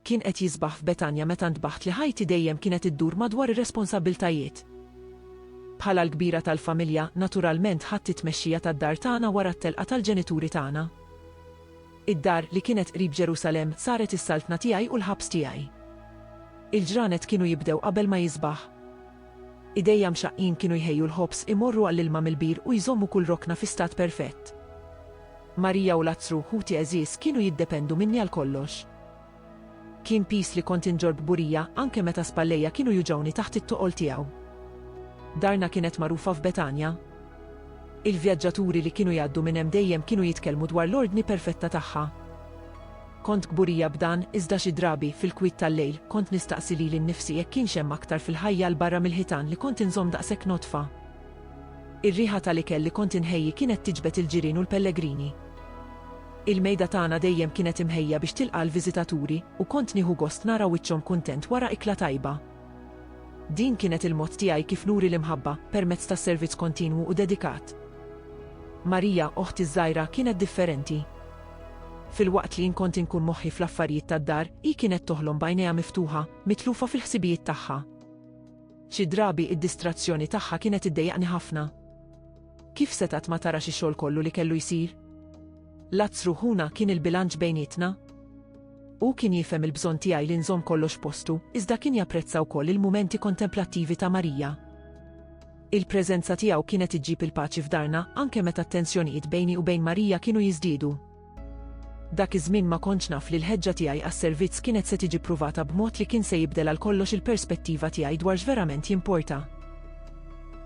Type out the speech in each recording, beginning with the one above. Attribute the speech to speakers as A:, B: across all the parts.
A: Kien qed jisbaħ f'Betanja meta ntbaħt li ħajti dejjem kienet iddur madwar ir-responsabbiltajiet. Bħala l-kbira tal-familja, naturalment ħadt it-tmexxija tad-dar tagħna wara t-telqa tal-ġenituri tagħna. Id-dar, li kienet qrib Ġerusalemm, saret is-saltna tiegħi u l-ħabs tiegħi. Il-ġranet kienu jibdew qabel ma jisbaħ. Idejja mxaqqin kienu jħejju l-ħobż, imorru għall-ilma mill-bir u jżommu kull rokna fi stat perfett. Marija u Lazzru, ħuti għeżież, kienu jiddependu minni għal kollox. Kien piż li kont inġorr kburija, anke meta spallejja kienu juġgħuni taħt it-toqol tiegħu. Darna kienet magħrufa f'Betanja. Il-vjaġġaturi li kienu jgħaddu minn hemm dejjem kienu jitkellmu dwar l-ordni perfetta tagħha. Kont kburija b'dan, iżda xi drabi, fil-kwiet tal-lejl, kont nistaqsi lili nnifsi jekk kienx hemm aktar fil-ħajja 'l barra mill-ħitan li kont inżomm daqshekk nodfa. Ir-riħa tal-ikel li kont inħejji kienet tiġbed il-ġirien u l-pellegrini. Il-mejda tagħna dejjem kienet imħejja biex tilqa' l-viżitaturi u kont nieħu gost nara wiċċhom kuntent wara ikla tajba. Din kienet il-mod tiegħi kif nuri l-imħabba, permezz ta' servizz kontinwu u dedikat. Maria, oħti ż-żgħira, kienet differenti. Filwaqt li jien kont inkun moħħi fl-affarijiet tad-dar, hi kienet toħlom b'għajnejha miftuħa, mitlufa fil-ħsibijiet tagħha. Xi drabi id-distrazzjoni tagħha kienet iddejjaqni ħafna. Kif setgħet ma tarax ix-xogħol kollu li kellu jsir? Lazzru ħuna kien il-bilanċ bejnietna. Hu kien jifhem il-bżonn tiegħi li nżomm kollox postu, iżda kien japprezza wkoll il-mumenti kontemplattivi ta' Marija. Il-preżenza tiegħu kienet iġġib il-paċi f'darna, anke meta t-tensjonijiet bejni u bejn Marija kienu jiżdiedu. Dak iż-żmien ma kontx naf li l-ħeġġa tiegħi għas-servizz kienet se tiġi ppruvata b'mod li kien se jibdel għal kollox il-perspettiva tiegħi dwar x'verament jimporta.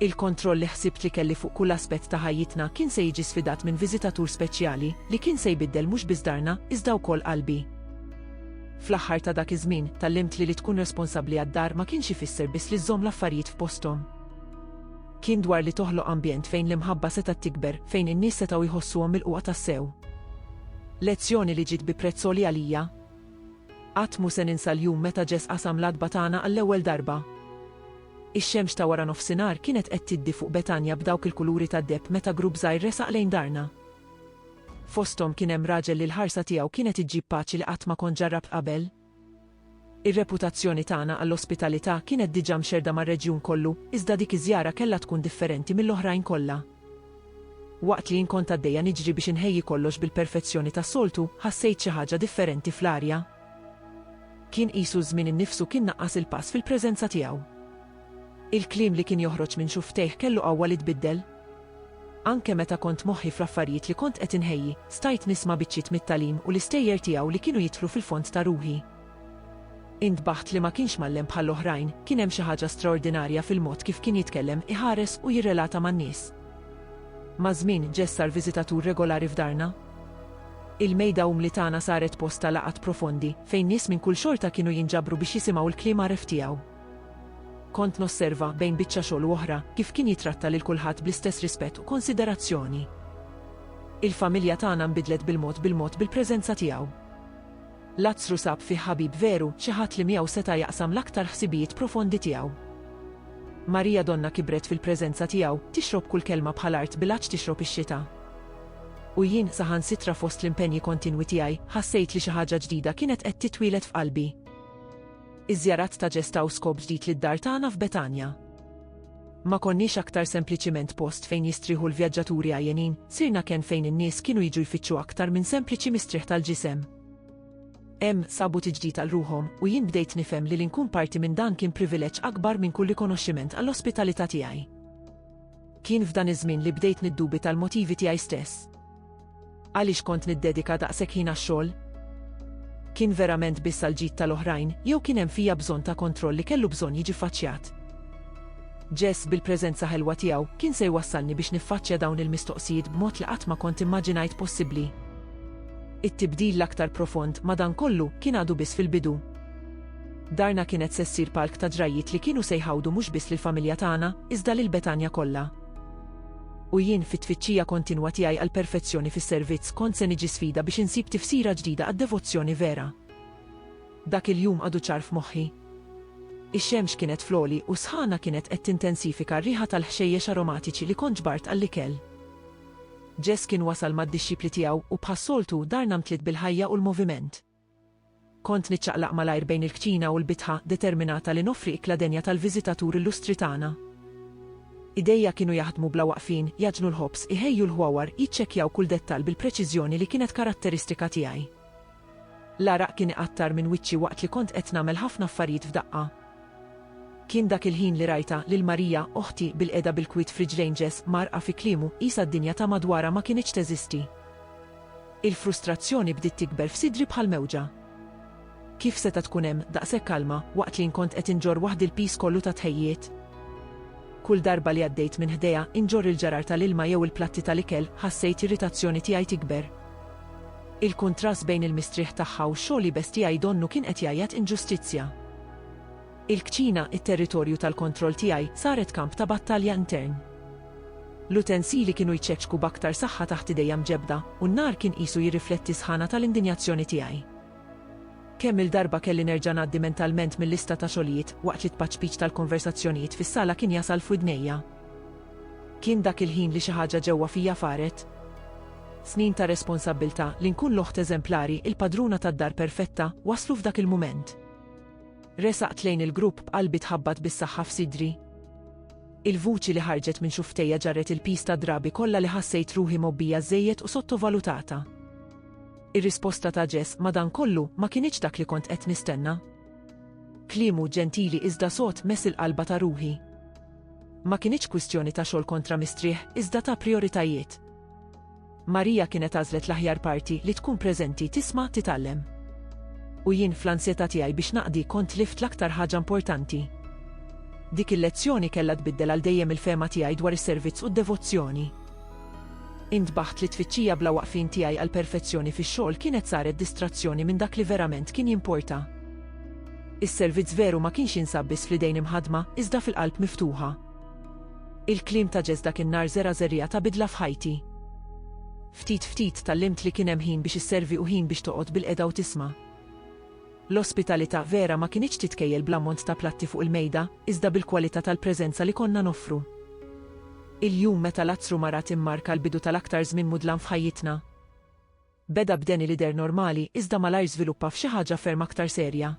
A: Il-kontroll li ħsibt li kelli fuq kull aspett ta' ħajjitna kien se jiġi sfidat minn viżitatur speċjali li kien se jbiddel mhux biss darna, iżda wkoll qalbi. Fl-aħħar ta' dak iż-żmien, tgħallimt li li tkun responsabbli għad-dar ma kienx ifisser biss li żżomm l-affarijiet f'posthom. Kien dwar li toħloq ambjent fejn l-imħabba setgħet tikber, fejn in-nies setgħu jħossuhom milqugħa tassew. Lezzjoni li ġiet bi prezz għoli għalija. Qatt mhu se ninsa l-jum meta Ġes qasam l-għatba tagħna għall-ewwel darba. Ix-xemx ta' wara nofsinhar kienet qed tiddi fuq Betanja b'dawk il-kuluri tad-deheb meta grupp żgħir resaq lejn darna. Fosthom kien hemm raġel li l-ħarsa tiegħu kienet iġġib paċi li qatt ma kont ġarrabt qabel. Ir-reputazzjoni tagħna għall-ospitalità kienet diġà mxerrda mar-reġjun kollu, iżda dik iż-żjara kellha tkun differenti mill-oħrajn kollha. Waqt li jien kont għaddejja niġri biex inħejji kollox bil-perfezzjoni tas-soltu, ħassejt xi ħaġa differenti fl-arja. Kien qisu ż-żmien innifsu kien naqqas il-pass fil-preżenza tiegħu. Il-kliem li kien joħroġ minn xufftejh kellu qawwa li tbiddel. Anke meta kont moħħi fl-affarijiet li kont qed inħejji, stajt nisma' biċċiet mit-tagħlim u l-istejjer tiegħu li kienu jidħlu fil-fond ta' ruħi. Intbaħt li ma kienx mgħallem bħall-oħrajn, kien hemm xi ħaġa straordinarja fil-mod kif kien jitkellem, iħares u jirrelata man-nies. Maż-żmien, Jess sar viżitatur regolari f'darna. Il-mejda umli tagħna saret post ta' laqgħat profondi, fejn nies minn kull xorta kienu jinġabru biex jisimgħu l-kliem għaref tiegħu. Kont nosserva, bejn biċċa xogħol u oħra, kif kien jittratta lil kulħadd bl-istess rispett u konsiderazzjoni. Il-familja tagħna nbidlet bil-mod bil-mod bil-preżenza tiegħu. Lazzru sab fih ħabib veru, xi ħadd li miegħu seta' jaqsam l-aktar ħsibijiet profondi tiegħu. Marija donna kibret fil-preżenza tiegħu, tixrob kull kelma bħal art bil-għatx tixrob ix-xita. U jien, saħansitra fost l-impenji kontinwi tiegħi, ħassejt li xi ħaġa ġdida kienet qed titwieled f'qalbi. Iż-żjarat ta' ġest taw skop ġdid lid-dar tagħna f'Betanja. Ma konniex aktar sempliċiment post fejn jistrieħu l-vjaġġaturi għajjenin, sirna kenn fejn in-nies kienu jiġu jfittxu aktar minn sempliċi mistrieħ tal-ġisem. Hemm sabu tiġdid għal ruħhom u jien bdejt nifhem li li nkun parti minn dan kien privileġġ akbar minn kull rikonoxximent għall-ospitalità tiegħi. Kien f'dan iż-żmien li bdejt niddubita l-motivi tiegħi stess. Għaliex kont niddedika daqshekk ħin għax-xogħol? Kien verament biss għall-ġid tal-oħrajn jew kien hemm fija bżonn ta' kontroll li kellu bżonn jiġi ffaċċjat? Jess bil-preżenza ħelwa tiegħu kien se jwassalni biex niffaċċja dawn il-mistoqsijiet b'mod li qatt ma kont immaġinajt possibbli. It-tibdil l-aktar profond, madankollu, kien għadu biss fil-bidu. Darna kienet se ssir palk ta' ġrajjiet li kienu se jħawdu mhux biss lill-familja tagħna, iżda lil Betanja kollha. U jien, fit-tfittxija kontinwa tiegħi għall-perfezzjoni fis-servizz, kont se niġi sfida biex insib tifsira ġdida għad-devozzjoni vera. Dak il-jum għadu ċar f'moħħi. Ix-xemx kienet fl-għoli u s-sħana kienet qed tintensifika r-riħa tal-ħxejjex aromatiċi li kont ġbart għall-ikel. Jess kien wasal mad-dixxipli tiegħu u bħas-soltu darna mtliet bil-ħajja u l-moviment. Kont niċċaqlaq malajr bejn il-kċina u l-bitħa, determinata li noffri ikla denja tal-viżitatur illustri tagħna. Idejja kienu jaħdmu bla waqfin, jgħaġnu l-ħobż, iħejju l-ħwawar, jiċċekkjaw kull dettall bil-preċiżjoni li kienet karatteristika tiegħi. L-għaraq kien iqattar minn wiċċi waqt li kont qed nagħmel ħafna affarijiet f'daqqa. Kien dak il-ħin li rajtha, lil Maria, oħti, bilqiegħda bil-kwiet f'riġlejn Ġes, mgħarrqa fi kliemu, qisha d-dinja ta' madwarha ma kinitx teżisti. Il-frustrazzjoni bdiet tikber f'sidri bħal mewġa. Kif seta' tkun hemm daqshekk kalma waqt li nkont qed inġorr waħdi l-piż kollu tat-tħejjijiet? Kull darba li għaddejt minn ħdejha inġorr il-ġarar tal-ilma jew il-platti tal-ikel ħassejt irritazzjoni tiegħi tikber. Il-kuntrast bejn il-mistrieħ tagħha u x-xogħol iebes tiegħi donnu kien qed jgħajjat inġustizzja. Il-kċina, it-territorju tal-kontroll tiegħi, saret kamp ta' battalja intern. L-utensili kienu jċeċku b'aktar saħħa taħt idejja mġebbda, u n-nar kien qisu jirrifletti s-sħana tal-indinjazzjoni tiegħi. Kemm-il darba kelli nerġa' ngħaddi mentalment mil-lista ta' xogħlijiet, waqt li t-tpaċpiċ tal-konversazzjonijiet fis-sala kien jasal f'widnejja. Kien dak il-ħin li xi ħaġa ġewwa fija faret. Snin ta' responsabbiltà, li nkun l-oħt eżemplari, il-padruna tad-dar perfetta, waslu f'dak il-mument. Resaqt lejn il-grupp b'qalbi tħabbat bis-saħħa f'sidri. Il-vuċi li ħarġet minn xufftejja ġarret il-piż tad-drabi kollha li ħassejt ruħi mgħobbija żżejjed u sottovalutata. Ir-risposta ta' Jess, madankollu, ma kinitx dak li kont qed nistenna. Kliemu ġentili iżda sod mess il-qalba ta' ruħi. Ma kinitx kwistjoni ta' xogħol kontra mistrieħ, iżda ta' prijoritajiet. Maria kienet għażlet l-aħjar parti li tkun preżenti tisma' titgħallem. U jien fl-ansjetà tiegħi biex naqdi kont tlift l-aktar ħaġa importanti. Dik il-lezzjoni kellha tbiddel għal dejjem il-fehma tiegħi dwar is-servizz u d-devozzjoni. Intbaħt li t-tfittxija bla waqfien tiegħi għall-perfezzjoni fix-xogħol kienet saret distrazzjoni minn dak li verament kien jimporta. Is-servizz veru ma kienx jinsab biss fl-idejn imħaddma, iżda fil-qalb miftuħa. Il-kliem ta' Jess dak in-nhar żera' żerriegħa ta' bidla f'ħajti. Ftit ftit tgħallimt li kien hemm ħin biex isservi u ħin biex toqgħod bilqegħda u tisma'. L-ospitalità vera ma kinitx titkejjel bl-ammont ta' platti fuq il-mejda, iżda bil-kwalità tal-preżenza li konna noffru. Il-jum meta Lazzru marat immarka l-bidu tal-aktar żmien mudlam f'ħajjitna. Beda b'Danny l-idher normali iżda malajr żviluppa f'xi ħaġa ferm aktar serja.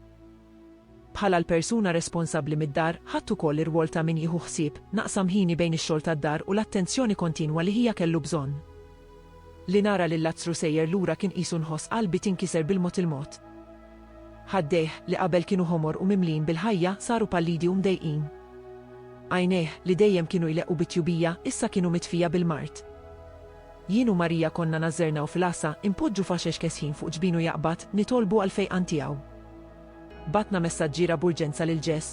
A: Bħala l-persuna responsabbli mid-dar, ħadt ukoll ir-rwol ta' min jieħu ħsieb, naqsam ħini bejn ix-xogħol tad-dar u l-attenzjoni kontinwa li ħija kellu bżonn. Li nara lil Lazzru sejjer lura kien qisu nħoss qalbi tinkiser bil-mod il-mod. Ħaddejh, li qabel kienu ħomor u mimlijin bil-ħajja, saru pallidi u mdejqin. Għajnejh, li dejjem kienu jleqqu bit-tjubija, issa kienu mitfija bil-mard. Jien u Marija konna nażżernaw fil-għasa, inpoġġu faxex kesħin fuq ġbinu jaqbad, nitolbu għall-fejqan tiegħu. Bgħatna messaġġiera b'urġenza lil Ġes.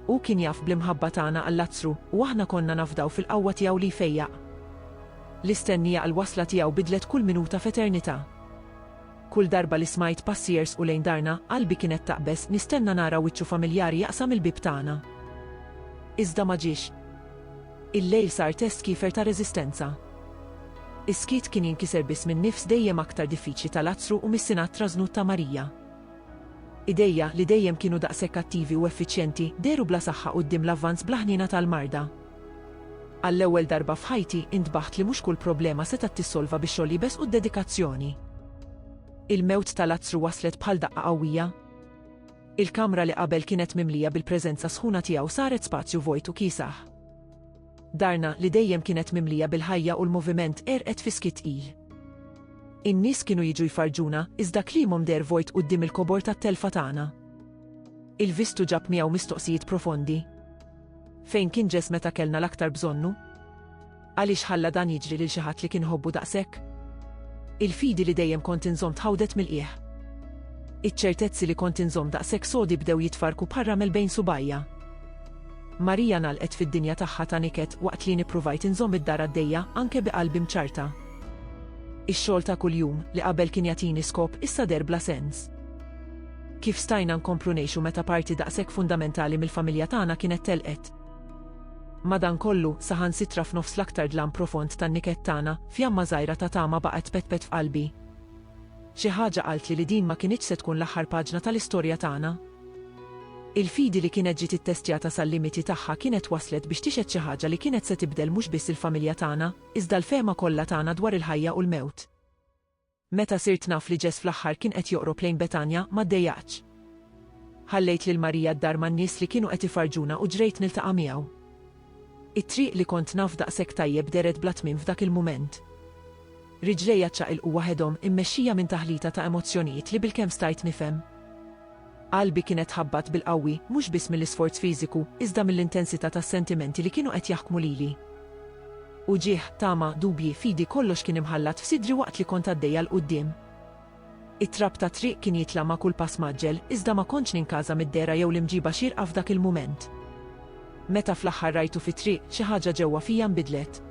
A: Hu kien jaf bl-imħabba tagħna għal Lazzru, u aħna konna nafdaw fil-qawwa tiegħu li jfejjaq. L-istennija għall-wasla tiegħu bidlet kull minuta f'eternità. Kull darba li smajt passi jersqu lejn darna, qalbi kienet taqbeż, nistenna nara wiċċu familjari jaqsam il-bieb tagħna. Iżda ma ġiex. Il-lejl sar test kiefer ta' reżistenza. Is-skiet kien jinkiser biss minn nifs dejjem aktar diffiċli ta' Lazzru u mis-Sinat trażnut ta' Marija. Idejha, li dejjem kienu daqshekk attivi u effiċjenti, dehru bla saħħa quddiem l-avvanz bla ħniena tal-marda. Għall-ewwel darba f'ħajti, intbaħt li mhux kull problema setgħet tissolva bi xogħol iebes u d-dedikazzjoni. Il-mewt ta' Lazzru waslet bħal daqqa qawwija. Il-kamra li qabel kienet mimlija bil-preżenza sħuna tiegħu saret spazju vojt u kiesaħ. Darna, li dejjem kienet mimlija bil-ħajja u l-moviment, għerqet fi skitt tqil. In-nies kienu jiġu jfarrġuna, iżda kliemhom deher vojt quddiem il-kobor tat-telfa tagħna. Il-vistu ġab miegħu mistoqsijiet profondi. Fejn kien Ġess meta kellna l-aktar bżonnu? Għaliex ħalla dan jiġri lil xi ħadd li kien iħobbu daqshekk? Il-fidi li dejjem kont inżomm tħawdet mill-qiegħ. Iċ-ċertezzi li kont inżomm daqshekk sodi bdew jitfarrku bħal ramel bejn subgħajja. Marija ngħalqet fid-dinja tagħha ta' niket waqt li jien ppruvajt inżomm id-dar għaddejja anke bi qalbi mċarrta. Ix-xogħol ta' kuljum, li qabel kien jagħtini skop, issa deher bla sens. Kif stajna nkomplu ngħixu meta parti daqshekk fundamentali mill-familja tagħna kienet telqet? Madankollu, saħansitra f'nofs l-aktar dlam profond tan-niket tagħna, fjamma żgħira ta' tama baqgħet tpetpet f'qalbi. Xi ħaġa qaltli li din ma kinitx se tkun l-aħħar paġna tal-istorja tagħna. Il-fidi li kienet ġiet ittestjata sal-limiti tagħha kienet waslet biex tixhed xi ħaġa li kienet se tibdel mhux biss il-familja tagħna, iżda l-fehma kollha tagħna dwar il-ħajja u l-mewt. Meta sirt naf li Ġess fl-aħħar kien qed joqrob lejn Betanja, ma ddejjaqtx. Ħallejt lil Marija d-dar man-nies li kienu qed ifarrġuna u ġrejt niltaqa' miegħu. It-triq li kont naf daqshekk tajjeb dehret bla tmiem f'dak il-mument. Riġlejja ċċaqilqu waħedhom, immexxija minn taħlita ta' emozzjonijiet li bilkemm stajt nifhem. Qalbi kienet tħabbat bil-qawwi, mhux biss mill-isforz fiżiku, iżda mill-intensità tas-sentimenti li kienu qed jaħkmu lili. Uġigħ, tama, dubji, fidi kollox kien imħallat f'sidri waqt li kont għaddejja 'l quddiem. It-trab tat-triq kien jitla' ma' kull pass mgħaġġel, iżda ma kontx ninkaża mid-dehra jew l-imġiba xierqa f'dak il-mument. Meta fl-aħħar rajtu fit-triq, xi ħaġa ġewwa fija nbidlet.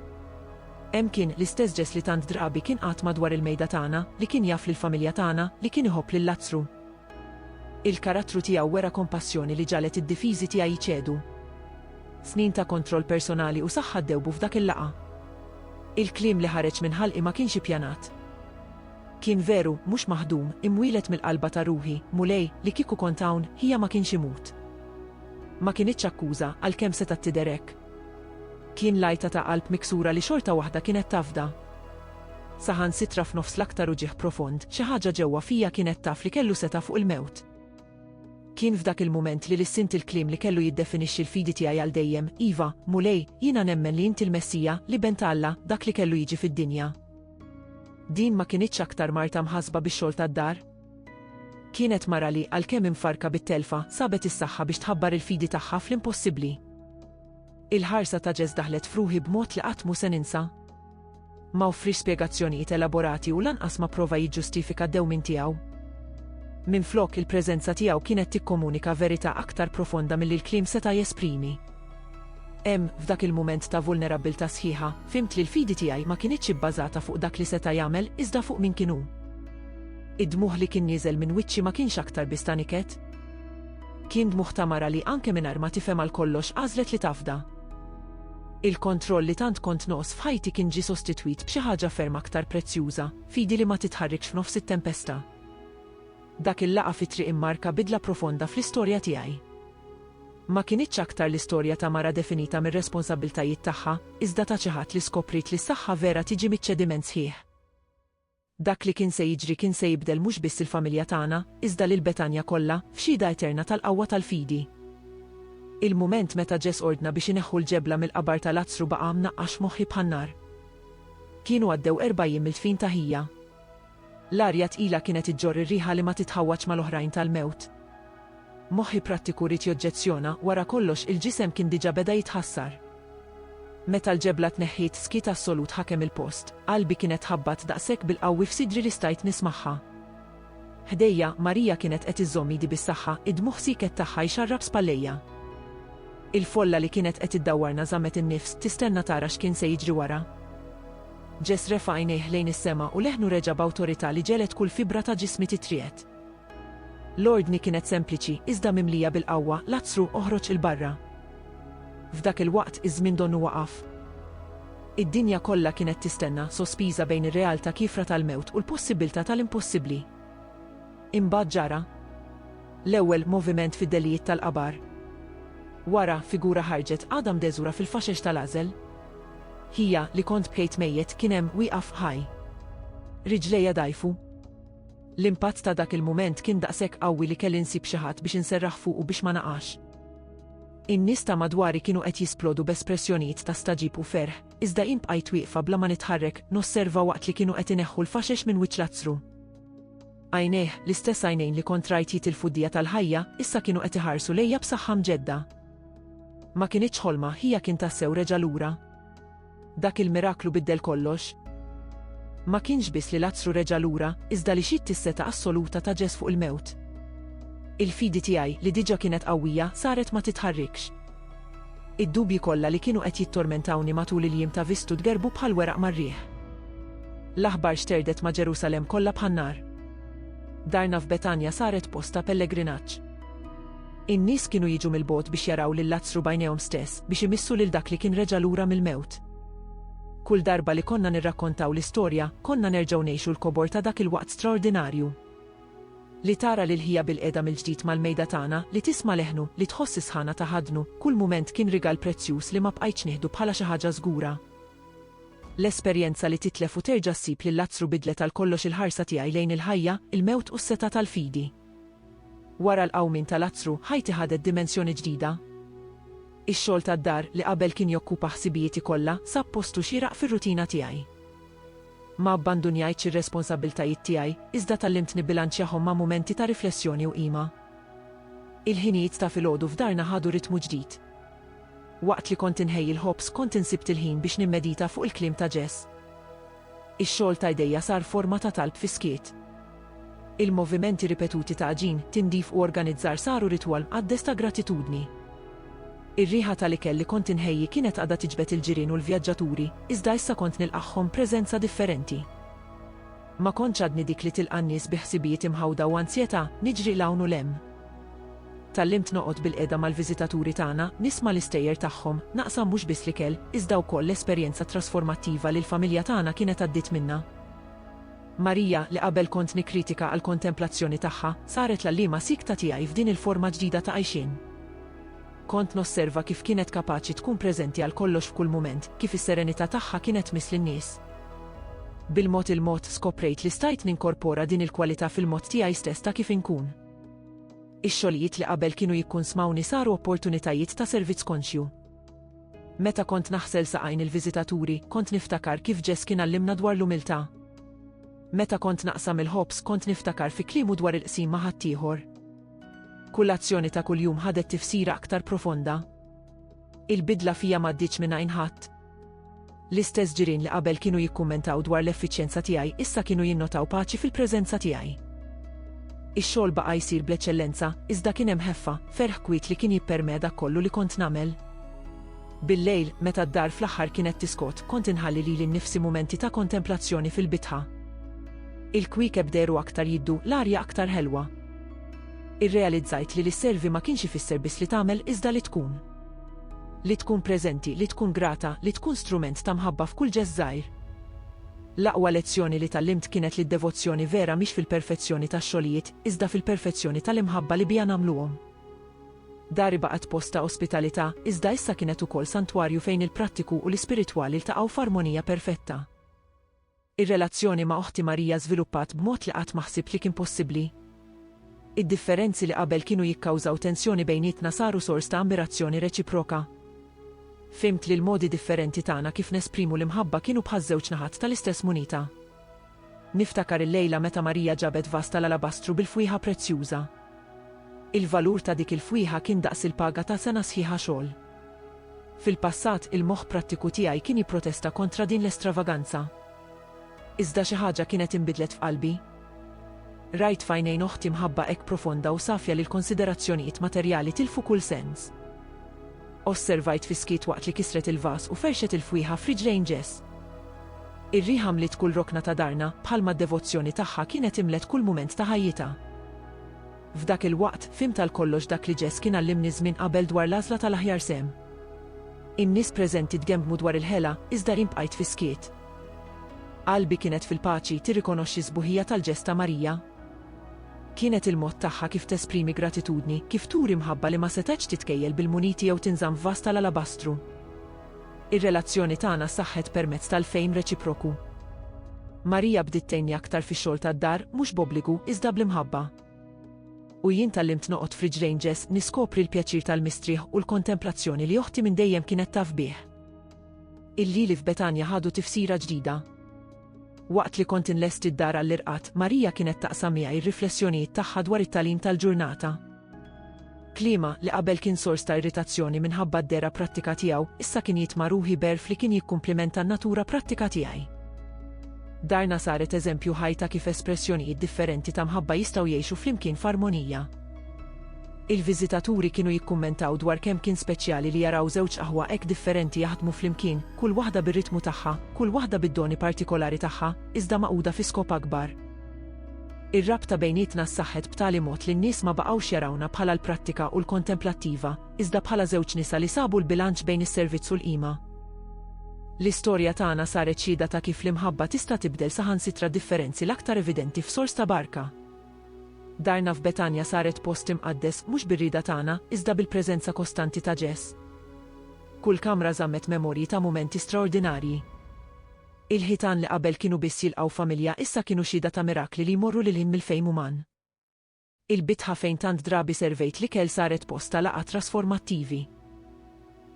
A: Hemm kien, l-istess Jess li tant drabi kien qagħad madwar il-mejda tagħna, li kien jaf lill-familja tagħna, li kien iħobb lil Lazzru. Il-karattru tiegħu wera kompassjoni li ġagħlet id-difiżi tiegħi jċedu. Snin ta' kontroll personali u saħħa ddewbu f'dak il-laqgħa. Il-kliem li ħareġ minn ħalqi ma kienx ippjanat. Kien veru, mhux maħdum, imwieled mill-qalba ta' ruħi, Mulej, li kieku kont hawn, ħija ma kienx imut. Ma kinitx akkuża, għalkemm setgħet tidher hekk. Kien l-għajta ta' qalb miksura li xorta waħda kienet tafda. Saħansitra f'nofs l-aktar uġigħ profond, xi ħaġa ġewwa fija kienet taf li kellu setgħa fuq il-mewt. Kien f'dak il-mument li lissint il-kliem li kellu jiddefinixxi l-fidi tiegħi għal dejjem, Iva, Mulej, jiena nemmen li inti l-Messija, l-Iben ta' Alla, dak li kellu jiġi fid-dinja. Din ma kinitx aktar marta mħassba bix-xogħol tad-dar. Kienet mara li, għalkemm imfarrka bit-telfa, sabet is-saħħa biex tħabbar il-fidi tagħha fl-impossibbli. Il-ħarsa ta' Jess daħlet f'ruħi b'mod li qatt mhu se ninsa. Ma offriex spjegazzjonijiet elaborati u lanqas ma prova jiġġustifika d-dewmien tiegħu. Minflok, il-preżenza tiegħu kienet tikkomunika verità aktar profonda milli l-kliem seta' jesprimi. Hemm, f'dak il-mument ta' vulnerabbiltà sħiħa, fhimt li l-fidi tiegħi ma kinitx ibbażata fuq dak li seta' jagħmel iżda fuq min kien hu. Id-dmugħ li kien nieżel minn wiċċi ma kienx aktar biss ta' niket. Kien dmugħ ta' mara li anke mingħajr ma tifhem għal kollox għażlet li tafda. Il-kontroll li tant kont noqs f'ħajti kien ġie sostitwit b'xi ħaġa ferm aktar prezzjuża, fidi li ma titħarrikx f'nofs it-tempesta. Dak il-laqgħa fit-triq immarka bidla profonda fl-istorja tiegħi. Ma kinitx aktar l-istorja ta' mara definita mir-responsabbiltajiet tagħha, iżda ta' xi ħadd li skopriet li s-saħħa vera tiġi miċ-ċediment sħiħ. Dak li kien se jiġri kien se jibdel mhux biss il-familja tagħna, iżda lil Betanja kollha, f'xhieda eterna tal-qawwa tal-fidi. Il-mument meta Ġes ordna biex ineħħu l-ġebla mill-qabar ta' Lazzru baqa' mnaqqax f'moħħi bħan-nar. Kienu għaddew erba' jiem mill-dfin ta' ħija. L-arja tqila kienet iġġorr ir-riħa li ma titħawwadx mal-oħrajn tal-mewt. Moħħi prattiku ried joġġezzjona, wara kollox, il-ġisem kien diġà beda jitħassar. Meta l-ġebla tneħħiet, skiet assolut ħakem il-post. Qalbi kienet tħabbat daqshekk bil-qawwi f'sidri li stajt nismagħha. Ħdejja, Marija kienet qed iżżomm idi bis-saħħa, id-dmugħ sieket tagħha jxarrab spallejja. Il-folla li kienet qed iddawwarna żammet in-nifs, tistenna tara x'kien se jiġri wara. Ġess refa' għajnejh lejn is-sema u leħnu reġa' b'awtorità li ġegħlet kull fibra ta' ġismi titriegħed. L-ordni kienet sempliċi, iżda mimlija bil-qawwa, Lazzru, oħroġ 'il barra! F'dak il-waqt, iż-żmien donnu waqaf. Id-dinja kollha kienet tistenna, sospiża bejn ir-realtà kiefra tal-mewt u l-possibbiltà tal-impossibbli. Imbagħad ġara l-ewwel moviment fid-delijiet tal-qabar. Wara, figura ħarġet għadha mdeżura fil-faxex tal-għażel. Ħija, li kont bkejt mejjet, kien hemm wieqaf ħaj. Riġlejja dgħajfu. L-impatt ta' dak il-mument kien daqshekk qawwi li kelli nsib xi ħadd biex inserraħ fuqu biex ma naqax. In-nies ta' madwari kienu qed jisplodu b'espressjonijiet ta' stagħġib u ferħ, iżda jien bqajt wieqfa bla ma nitħarrek, nosserva waqt li kienu qed ineħħu l-faxex minn wiċċ l-azzru. Għajnejh, l-istess għajnejn li kont rajt jitilfu d-dija tal-ħajja, issa kienu qed iħarsu lejja b'saħħa mġedda. Ma kinitx ħolma, ħija kien tassew reġa' lura. Dak il-miraklu biddel kollox. Ma kienx biss li Lazzru reġa' lura, iżda li xitt is-seta' assoluta ta' Ġes fuq il-mewt. Il-fidi tiegħi, li diġà kienet qawwija, saret ma titħarrikx. Id-dubji kollha li kienu qed jittormentawni matul il-jiem ta' Vistu tgerrbu bħal weraq mar-riħ. L-aħbar xterdet ma' Ġerusalemm kollha bħan-nar. Darna f'Betanja saret post ta' pellegrinaġġ. In-nies kienu jiġu mill-bogħod biex jaraw lil Lazzru b'għajnejhom stess, biex imissu lil dak li kien reġa' lura mill-mewt. Kull darba li konna nirrakkontaw l-istorja, konna nerġgħu ngħixu l-kobor ta' dak il-waqt straordinarju. Li tara lil ħija bilqiegħda mill-ġdid mal-mejda tagħna, li tisma' leħnu, li tħoss is-sħana ta' ħadnu, kull mument kien rigal prezzjuż li ma bqajtx nieħdu bħala xi ħaġa żgura. L-esperjenza li titlef u terġa' ssib lil Lazzru bidlet għal kollox il-ħarsa tiegħi lejn il-ħajja, il-mewt u s-setgħa tal-fidi. Wara l-qawmien ta' Lazzru, ħajti ħadet dimensjoni ġdida. Ix-xogħol tad-dar, li qabel kien jokkupa ħsibijieti kollha, sab postu xieraq fir-rutina tiegħi. Ma abbandunjajtx ir-responsabbiltajiet tiegħi, iżda tgħallimt nibbilanċjahom ma' mumenti ta' riflessjoni u qima. Il-ħinijiet ta' filgħodu f'darna ħadu ritmu ġdid. Waqt li kont inħejji l-ħobż kont insibt il-ħin biex nimmedita fuq il-kliem ta' Jess. Ix-xogħol ta' idejja sar forma ta' talb fis-skiet. Il-movimenti ripetuti ta' għaġin, tindif u organizzar saru ritwal mqaddes ta' gratitudni. Ir-riħa tal-ikel li kont inħejji kienet għadha tiġbed il-ġirien u l-vjaġġaturi, iżda issa kont nilqagħhom b'preżenza differenti. Ma kontx għadni dik li tilqa' n-nies bi ħsibijiet imħawda u anzjetà, niġri 'l hawn u 'l hemm. Tgħallimt noqgħod bilqiegħda mal-viżitaturi tagħna, nisma' l-istejjer tagħhom, naqsam mhux biss l-ikel, iżda wkoll l-esperjenza trasformattiva li l-familja tagħna kienet għaddiet minnha. Marija, li qabel kont nikkritika għall-kontemplazzjoni tagħha, saret l-għalliema siekta tiegħi f'din il-forma ġdida ta' għajxien. Kont nosserva kif kienet kapaċi tkun preżenti għal kollox f'kull mument, kif is-serenità tagħha kienet tmiss lin-nies. Bil-mod il-mod skoprejt li stajt ninkorpora din il-kwalità fil-mod tiegħi stess ta' kif inkun. Ix-xogħlijiet li qabel kienu jikkunsmawni saru opportunitajiet ta' servizz konxju. Meta kont naħsel saqajn il-viżitaturi, kont niftakar kif Ġess kien għallimna dwar l-umiltà. Meta kont naqsam il-ħobż, kont niftakar fi kliemu dwar il-qsim ma' ħaddieħor. Kull azzjoni ta' kuljum ħadet tifsira aktar profonda. Il-bidla fija m'għaddietx minn għajn ħadd. L-istess ġirien li qabel kienu jikkummentaw dwar l-effiċjenza tiegħi issa kienu jinnotaw paċi fil-preżenza tiegħi. Ix-xogħol baqa' jsir bl-eċċellenza, iżda kien hemm ħeffa, ferħ kwiet li kien jippermea dak kollu li kont nagħmel. Billejl, meta d-dar fl-aħħar kienet tiskot, kont inħalli lili nnifsi mumenti ta' kontemplazzjoni fil-bitħa. Il-kwiekeb dehru aktar jiddu, l-arja aktar ħelwa. Irrealizzajt li li sservi ma kienx ifisser biss li tagħmel iżda li tkun. Li tkun preżenti, li tkun grata, li tkun strument ta' mħabba f'kull ġest żgħir. L-aqwa lezzjoni li tgħallimt kienet li d-devozzjoni vera mhix fil-perfezzjoni tax-xogħlijiet, iżda fil-perfezzjoni tal-imħabba li biha nagħmluhom. Dari baqgħet post ta' ospitalità, iżda issa kienet ukoll santwarju fejn il-prattiku u l-ispiritwali ltaqgħu f'armonija perfetta. Ir-relazzjoni ma' oħti Marija żviluppat b'mod li qatt ma ħsibt li kien possibbli. Id-differenzi li qabel kienu jikkawżaw tensjoni bejnietna saru sors ta' ammirazzjoni reċiproka. Fhimt li l-modi differenti tagħna kif nesprimu l-imħabba kienu bħaż-żewġ naħat tal-istess munita. Niftakar il-lejla meta Marija ġabet vas tal-alabastru bil-fwieħa prezzjuża. Il-valur ta' dik il-fwieħa kien daqs il-paga ta' sena sħiħa xogħol. Fil-passat, il-moħħ prattiku tiegħi kien jipprotesta kontra din l-estravaganza. Iżda xi ħaġa kienet inbidlet f'qalbi. Rajt f'għajnejn oħti mħabba hekk profonda u safja li l-konsiderazzjonijiet materjali tilfu kull sens. Osservajt fis-skiet waqt li kisret il-vas u ferxet il-fwieħa f'riġlejn Jess. Ir-riħa mliet kull rokna ta' darna, bħalma d-devozzjoni tagħha kienet imlet kull mument ta' ħajjitha. F'dak il-waqt, fhimt għal kollox dak li Jess kien għallimni żmien qabel dwar l-għażla tal-aħjar sehem. In-nies preżenti tgembmu dwar il-ħela, iżda jien bqajt fis-skiet. Qalbi kienet fil-paċi, tirrikonoxxi s-sbuħija tal-ġest ta' Marija? Kienet il-mod tagħha kif tesprimi gratitudni, kif turi mħabba li ma setgħetx titkejjel bil-muniti jew tinżamm f'vas tal-alabastru. Ir-relazzjoni tagħna saħħet permezz tal-fehim reċiproku. Maria bdiet tgħinni aktar fix-xogħol tad-dar, mhux b'obbligu, iżda bl-imħabba. U jien tgħallimt noqgħod f'riġlejn Ġess niskopri l-pjaċir tal-mistrieħ u l-kontemplazzjoni li oħti minn dejjem kienet taf bih. Il-lili f'Betanja ħadu tifsira ġdida. Waqt li kont inlesti d-dar għall-irqad, Maria kienet taqsam miegħi r-riflessjonijiet tagħha dwar it-tagħlim tal-ġurnata. Kliemha, li qabel kien sors ta' irritazzjoni minħabba d-dehra prattika tiegħu, issa kien jitma' ruħi b'għerf li kien jikkumplimenta n-natura prattika tiegħi. Darna saret eżempju ħaj ta' kif espressjonijiet differenti ta' mħabba jistgħu jgħixu flimkien f'armonija. Il-viżitaturi kienu jikkummentaw dwar kemm kien speċjali li jaraw żewġ aħwa hekk differenti jaħdmu flimkien, kull waħda bir-ritmu tagħha, kull waħda bid-doni partikolari tagħha, iżda magħquda fi skop akbar. Ir-rabta bejnietna ssaħħet b'tali mod li n-nies ma baqgħux jarawna bħala l-prattika u l-kontemplattiva, iżda bħala żewġ nisa li sabu l-bilanċ bejn is-servizz u l-qima. L-istorja tagħna saret xhieda ta' kif l-imħabba tista' tibdel saħansitra d-differenzi l-aktar evidenti f'sors ta' barka. Darna f'Betanja saret post imqaddes mhux bir-rieda tagħna, iżda bil-preżenza kostanti ta' Ġes. Kull kamra żammet memorji ta' mumenti straordinarji. Il-ħitan li qabel kienu biss jilqgħu familja issa kienu xhieda ta' mirakli li jmorru lil hinn mill-fehim uman. Il-bitħa fejn tant drabi servejt l-ikel saret post ta' laqgħat trasformattivi.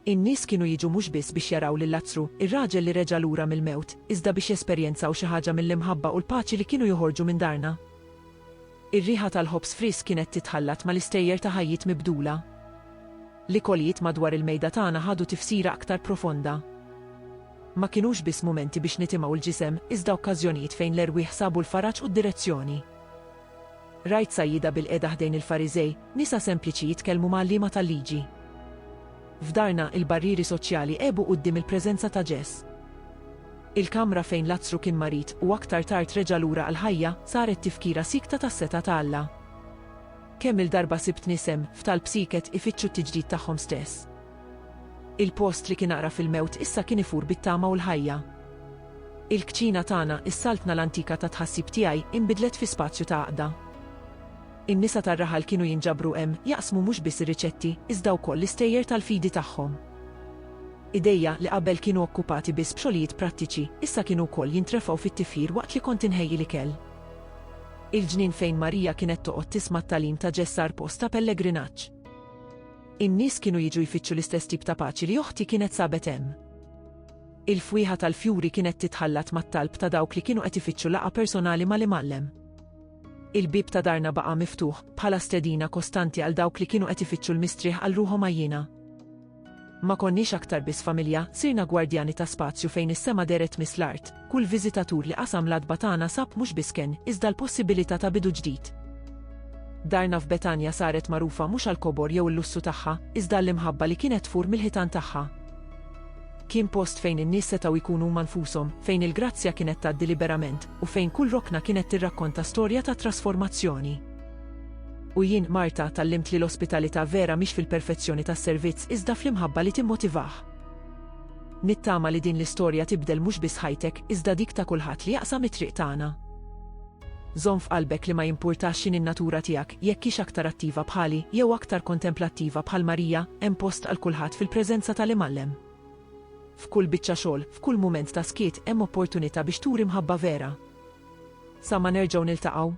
A: In-nies kienu jiġu mhux biss biex jaraw lil Lazzru, ir-raġel li reġa' lura mill-mewt, iżda biex jesperjenzaw xi ħaġa mill-imħabba u l-paċi li kienu joħorġu minn darna. Ir-riħa tal-ħobż frisk kienet titħallat mal-istejjer ta' ħajjiet mibdula. L-ikolijiet madwar il-mejda tagħna ħadu tifsira aktar profonda. Ma kinux biss mumenti biex nitimgħu l-ġisem, iżda okkażjonijiet fejn l-erwieħ sabu l-faraġ u d-direzzjoni. Rajt sajjieda bilqiegħda ħdejn il-Fariżej, nisa sempliċi jitkellmu ma' għalliema tal-liġi. F'darna, il-barrieri soċjali għebu quddiem il-preżenza ta' Ġes. Il-kamra fejn Lazzru kien marid u aktar tard reġa' lura għall-ħajja, saret tifkira siekta tas-setgħa ta' Alla. Kemm-il darba sibt nies hemm, f'talb sieket, ifittxu t-tiġdid tagħhom stess. Il-post li kien aqra fil-mewt issa kien ifur bit-tama u l-ħajja. Il-kċina tagħna, is-saltna l-antika tat-tħassib tiegħi, inbidlet fi spazju ta' għaqda. In-nisa tar-raħal kienu jinġabru hemm, jaqsmu mhux biss ir-riċetti, iżda wkoll l-istejjer tal-fidi tagħhom. Idejja, li qabel kienu okkupati biss b'xogħlijiet prattiċi, issa kienu wkoll jintrefgħu fit-tifħir waqt li kont inħejji l-ikel. Il-ġnien fejn Marija kienet toqgħod tisma' t-tagħlim ta' Ġeż sar post ta' pellegrinaġġ. In-nies kienu jiġu jfittxu l-istess tip ta' paċi li oħti kienet sabet hemm. Il-fwieħa tal-fjuri kienet titħallat mat-talb ta' dawk li kienu qed ifittxu laqgħa personali mal-Imgħallem. Il-bieb ta' darna baqa' miftuħ, bħala stedina kostanti għal dawk li kienu qed ifittxu l-mistrieħ għal ruħhom għajjiena. Ma konniex aktar biss familja, sirna gwardjani ta' spazju fejn is-sema dehret miss l-art. Kull viżitatur li qasam l-għatba tagħna sab mhux biss kenn, iżda l-possibilità ta' bidu ġdid. Darna f'Betanja saret magħrufa mhux għall-kobor jew il-lussu tagħha, iżda għall-imħabba li kienet tfur mill-ħitan tagħha. Kien post fejn in-nies setgħu jkunu huma nfushom, fejn il-grazzja kienet tgħaddi liberament, u fejn kull rokna kienet tirrakkonta storja ta' trasformazzjoni. U jien, Marta, tallimt li l-ospitalità vera mhix fil-perfezzjoni tas-servizz iżda fl-imħabba li timmotivah. Nittama li din l-istorja tibdel mhux biss ħajtek, iżda dik ta' kulħadd li jaqsam it-triq tagħna. Żomm f'qalbek li ma jimpurtax x'inhi n-natura tiegħek, jekk hix aktar attiva bħali, jew aktar kontemplattiva bħal Marija, hemm post għal kulħadd fil-preżenza tal-Imgħallem. F'kull biċċa xogħol, f'kull mument ta' skiet, hemm opportunità biex turi mħabba vera. Sa ma nerġgħu niltaqgħu.